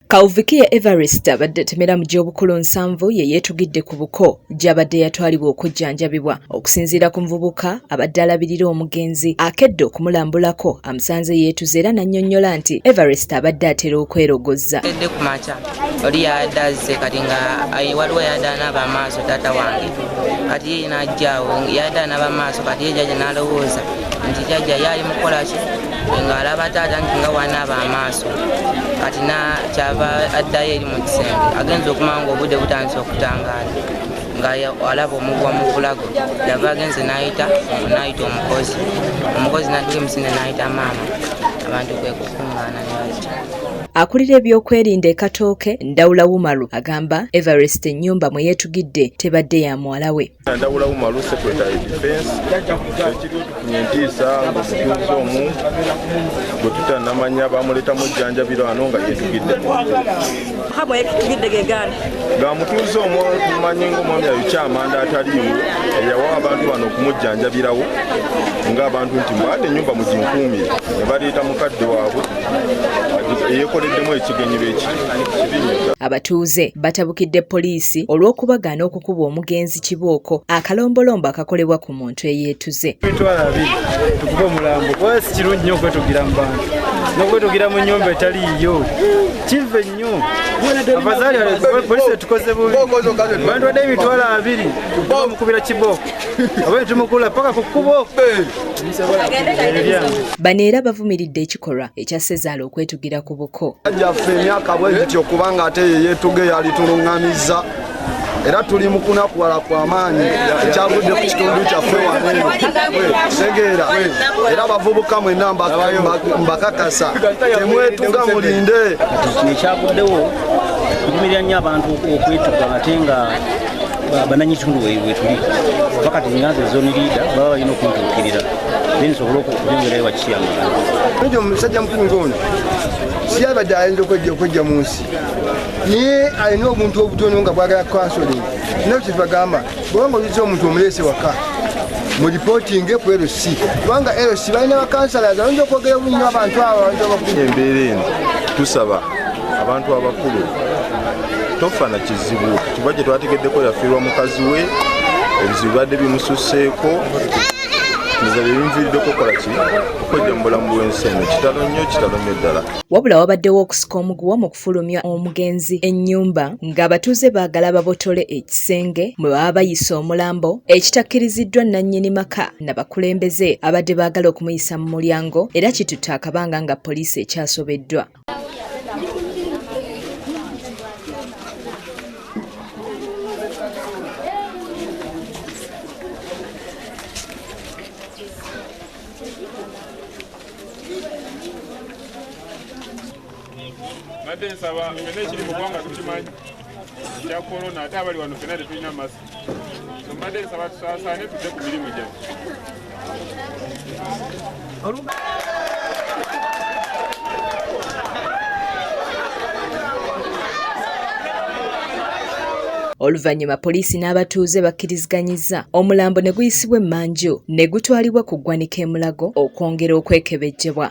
Kauvikia Everest abadde atemera mu gy'obukulu nsanvu ye yeetugidde ku buko gy'abadde yatwalibwa okujjanjabibwa. Okusinziira ku muvubuka abadde alabirira omugenzi akedde okumulambulako amusanze yeetuze era n'annyonnyola nti Everest abadde atera okwerogozza. Edde ku makya oli yadde azze kati nga waliwo yadde anaaba amaaso taata wange kati ye n'ajjaawo yadde anaaba amaaso kati ye jajja n'alowooza nti jajja yaali mukolaki ng'alaba taata nti nga wanaaba amaaso kati nakyava addayo eri mu kisenge agenza okumanya ngaobudde butandisa okutangaala nga alaba omugwa mu bulago yava agenze nayita nayita omukozi omukozi natuka emisinde nayita maama abantu kwekukuŋŋaana nebakita akulira ebyokwerinda e Katooke Ndawula Wumalu agamba Everest ennyumba mwe yeetugidde tebadde ya muwala we. Ndawula Umaru secretary defense ekiriwo tufunye entiisa ngaomutuuze omu gwe tutanamanya bamuletamu ejjanjabiro ano nga yetugidde nga mutuuze omu tumanyi ngaomwami ayokyamanda ataliiwo eyawa abantu bano okumujjanjabirawo ngaabantu nti mbaade enyumba muginkuumire ne baleeta mukadde waabwe eyekoleddemu ekigenyi bekiri abatuuze batabukidde poliisi olw'okubagaana okukuba omugenzi kibooko akalombolombo akakolebwa ku muntu eyeetuze tukuba omulambo kuba si kirungi nnyo okwetugira mu bantu n'okwetugira mu nnyumba etali yiyo kiva ennyo abazaali polisi etukoze bubi abantu badde emitwalo abiri bamukubira kibooko oba netumukula paka ku kkubo bano era bavumiridde ekikolwa ekya sezaala okwetugira ku buko ajaffe emyaka bwegityo kubanga ate yeyetuge yalitulungamiza era tuli mu kunakuwala kwa maanyi ekyavudde ku kitundu kyaffe waneeno tegeera era bavubuka mwena mbakakasa temwetuga mulinde ekyavuddewo kuvumirira nnyo abantu okwetuga ate nga bananyi kitundu wetuli bakati nganza ezoni liida baba balina okuntuukirira nensobole okubyongerayo bakiyamala omusajja mukulu ngaono siyabadde ayinza okwejja okwejja mu nsi naye alina obuntu obutono nga bwagala kansoling naye kyetubagamba bwanga oyiza omuntu omuleese waka mu lipootinge ku lc kubanga lc balina bakansalaza ayinza okwogera obunyo abantu abo abantu abakulu embeera eno tusaba abantu abakulu tofa na kizibu kiba kye twategeddeko yafiirwa mukazi we ebizibu bibadde bimususeeko nze bye bimviiriddeko okukola ki okwejja mu bulamu bw'ensi eno kitalo nnyo kitalo nnyo ddala Wabula wabaddewo okusika omuguwa mu kufulumya omugenzi ennyumba ng'abatuuze baagala babotole ekisenge mwe baba bayisa omulambo ekitakkiriziddwa nnannyini maka na bakulembeze abadde baagala okumuyisa mu mulyango era kitutte akabanga nga poliisi ekyasobeddwa. mbadde nsaba fena ekiri mu ggwanga tukimanyi ekya korona ate abali wano fena tetulina masi mbadde nsaba tusaasaane tudde ku mirimu gyaffe Oluvannyuma poliisi n'abatuuze bakkiriziganyizza omulambo ne guyisibwa emmanju ne gutwalibwa ku ggwanika e Mulago okwongera okwekebejjebwa.